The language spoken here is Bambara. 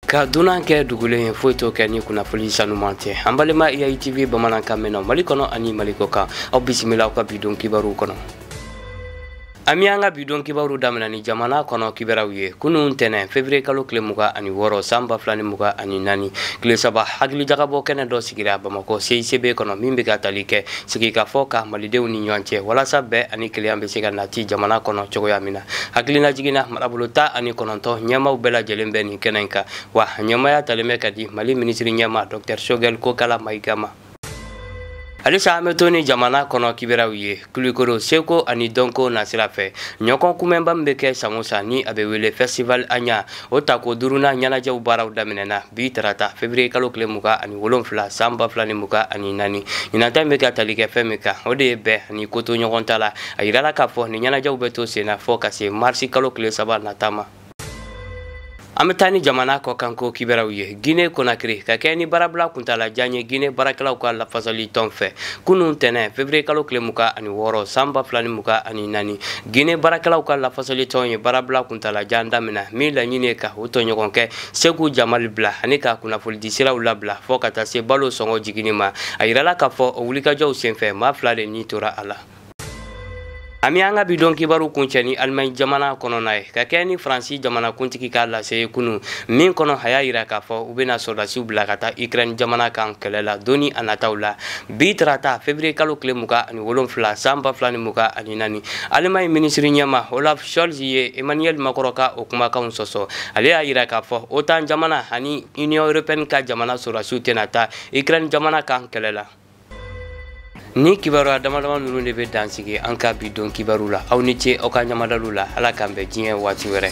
ka dunan kɛ dugulen ye foyi t'o kɛ ni kunnafoni sanuman tɛ an balima iyaitv bamanankan mɛnnaw mali kɔnɔ ani mali kɔ kan aw bisimila aw ka bi don kibaru kɔnɔ an bɛ an ka bi don kibaru damina ni jamana kɔnɔ kibaruw ye kunun tɛnɛ fevriye kalo tile mugan ani wɔɔrɔ san ba fila ni mugan ani naani tile saba hakilijagabɔ kɛnɛ dɔ sigira bamakɔ cicb kɔnɔ min bɛ ka tali kɛ sigikafɔ kan malidenw ni ɲɔgɔn cɛ walasa bɛn ani kelenya bɛ se ka nati jamana kɔnɔ cogoya min na hakilinajigin na marabolo tan ani kɔnɔntɔn ɲɛmaaw bɛɛ lajɛlen bɛ nin kɛnɛ in kan wa a ɲɛmaaya talen bɛ ka di mali minisiri ɲɛmaa dɔktɛr sogɛl kokala mayiga ma halisa an bɛ to ni jamana kɔnɔ kibaruyaw ye kulikoro seko ani dɔnko nasira fɛ ɲɔgɔn kunbɛnba min bɛ kɛ san o san ni a bɛ wele festival aɲa o tako duurunan ɲɛnajɛw baaraw daminɛna bi tarata fevriye kalo tile mugan ani wolonfila san ba fila ni mugan ani naani ɲinan ta bɛ ka tali kɛ fɛn min kan o de ye bɛn ani kotoɲɔgɔntala a yirala k'a fɔ nin ɲɛnajɛw bɛ to senna fɔɔ ka se marisi kalo tile saba nata ma an bɛ taa ni jamana kɔkanko kibaruyaw ye guinee konakiri ka kɛɲɛ ni baarabila kuntala jan ye guinee baarakɛlaw ka lafasali tɔn fɛ kunun tɛnɛ fevriye kalo tile mugan ani wɔɔrɔ san ba fila ni mugan ani naani gine baarakɛlaw ka lafasali tɔn ye baarabila kuntalajan damina min laɲini ye ka u tɔɲɔgɔn kɛ seku jamali bila ani ka kunnafolidi siraw labila fɔɔ ka taa se balo sɔngɔ jiginni ma a yirala k'a fɔ o wulikajɔw senfɛ maa fila de ni tora a la an bɛ an ka bi don kibaru kuncɛ ni alimaɲi jamana kɔnɔna ye ka kɛɲɛ ni faransi jamanakuntigi ka lase ye kunun min kɔnɔ a y'a yira k'a fɔ u bɛna sɔrɔdasiw bila ka taa ukraine jamana kan kɛlɛ la don nataw la bi tarata fevrier kalo tile mugan ani wolonfila san ba fila ni mugan ani naani alimaɲi minisiri ɲɛmaa olaf scholz ye emmanuel macron ka o kumakanw sɔsɔ ale y'a yira k'a fɔ otan jamana ani union européenne ka jamana sɔrɔdasiw tɛna taa ukraine jamana kan kɛlɛ la nin kibaruya damadama ninnu de bɛ dan sigi an ka bi don kibaru la aw ni ce aw ka ɲamadaliw la ala k'an bɛn diɲɛ waati wɛrɛ